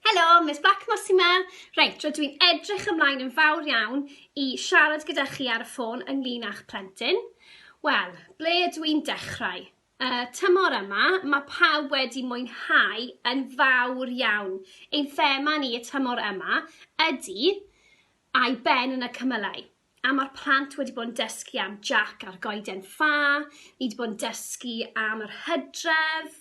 Helo, Miss Blackmore sy'n ma. Reit, rydw i'n edrych ymlaen yn fawr iawn i siarad gyda chi ar y ffôn ynglyn â'ch plentyn. Wel, ble ydw i'n dechrau? Uh, tymor yma, mae pawb wedi mwynhau yn fawr iawn. Ein thema ni y tymor yma ydy a'i ben yn y cymylau. a ma'r plant wedi bod yn dysgu am Jac a'r Goeden Ffa, ni wedi bod yn dysgu am yr Hydref,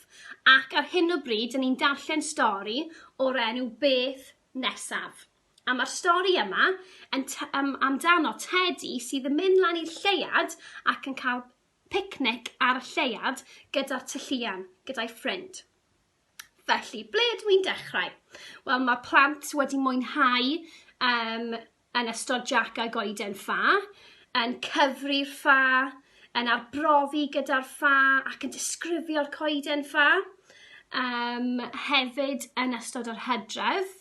ac ar hyn o bryd, dyn ni'n darllen stori o'r enw Beth Nesaf. A mae'r stori yma yn um, amdano Teddy sydd yn mynd lan i'r lleiad ac yn cael picnic ar y lleiad gyda'r tylluan, gyda'i ffrind. Felly, ble ydw i'n dechrau? Wel, mae plant wedi mwynhau um, yn ystod Jack a Goeden Ffa, yn cyfri'r ffa, yn arbrofi gyda'r ffa ac yn disgrifio'r coeden ffa. Um, hefyd yn ystod yr hydref,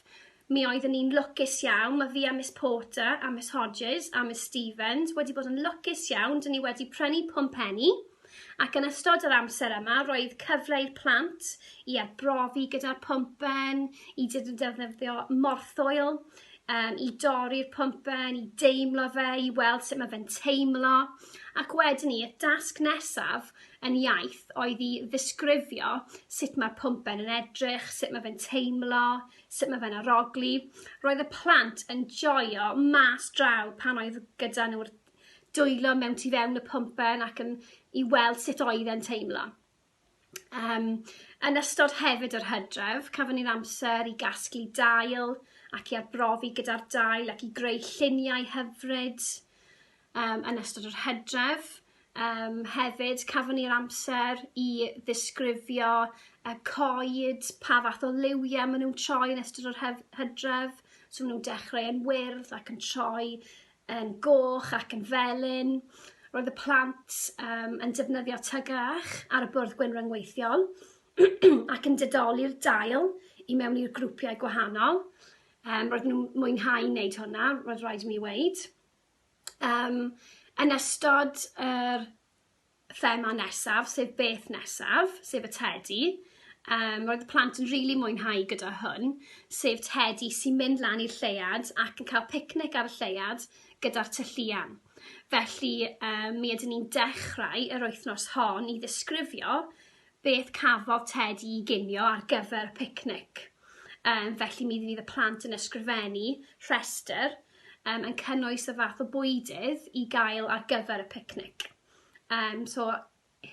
Mi oeddwn i'n lwcus iawn, mae fi a Miss Porter a Miss Hodges a Miss Stevens wedi bod yn lwcus iawn, dyn ni wedi prynu pwmpenni ac yn ystod yr amser yma roedd cyfle i'r plant i arbrofi gyda'r pwmpen, i defnyddio morthwyl, um, i dorri'r pwmpen, i deimlo fe, i weld sut mae fe'n teimlo. Ac wedyn ni, y dasg nesaf yn iaith oedd i ddisgrifio sut mae'r pwmpen yn edrych, sut mae fe'n teimlo, Sut mae fe'n arogli? Roedd y plant yn joio mas draw pan oedd gyda nhw'r dwylo mewn tu fewn y pwmpen ac yn i weld sut oedd e'n teimlo. Um, yn ystod hefyd yr hydref, cafon ni'r amser i gasglu dail ac i arbrofi gyda'r dail ac i greu lluniau hyfryd um, yn ystod yr hydref. Yym hefyd cafon ni'r amser i ddisgrifio y coed, pa fath o liwiau maen nhw'n troi yn ystod yr hef- hydref. So maen nhw'n dechrau yn wyrdd ac yn troi yn goch ac yn felyn. Roedd y plant um, yn defnyddio tygach ar y bwrdd gwyn ryngweithiol ac yn didoli'r dail i mewn i'r grwpiau gwahanol. Um, roedd nhw'n mwynhau wneud hwnna, roedd rhaid i mi weid. Yym, yn ystod yr thema nesaf, sef beth nesaf, sef y tedi, um, roedd y plant yn rili really mwynhau gyda hwn, sef tedi sy'n mynd lan i'r lleuad ac yn cael picnic ar y lleuad gyda'r tylluan. Felly, um, mi ydyn ni'n dechrau yr wythnos hon i ddisgrifio beth cafodd Ted i ginio ar gyfer y picnic. Um, felly mi fydd y plant yn ysgrifennu rhestr um, yn cynnwys y fath o bwydydd i gael ar gyfer y picnic. Um, so,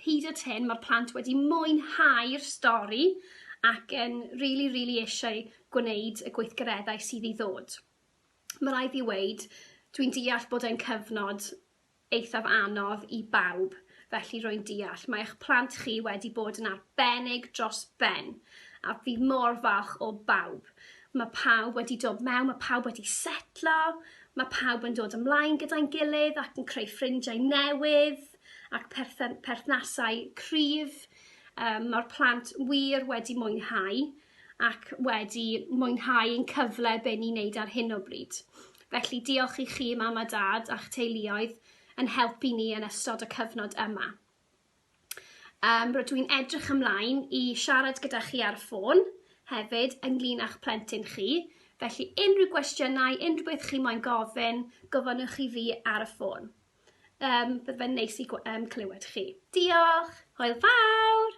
hyd at hyn, mae'r plant wedi mwynhau'r stori ac yn rili, really, rili really eisiau gwneud y gweithgareddau sydd i ddod. Mae rhaid i weid, dwi'n deall bod e'n cyfnod eithaf anodd i bawb, felly rwy'n deall. Mae eich plant chi wedi bod yn arbennig dros ben, a fi mor falch o bawb. Mae pawb wedi dod mewn, mae pawb wedi setlo, mae pawb yn dod ymlaen gyda'n gilydd ac yn creu ffrindiau newydd ac perthyn- perthnasau cryf. Um, mae'r plant wir wedi mwynhau ac wedi mwynhau ein cyfle be' ni'n neud ar hyn o bryd. Felly diolch i chi mam a dad a'ch teuluoedd yn helpu ni yn ystod y cyfnod yma. Um, rydw i'n edrych ymlaen i siarad gyda chi ar y ffôn hefyd ynglyn â'ch plentyn chi, felly unrhyw gwestiynau, unrhyw beth chi moyn gofyn, gofynnwch i fi ar y ffôn. Um, bydd fe'n neis i um, clywed chi. Diolch! Hwyl fawr!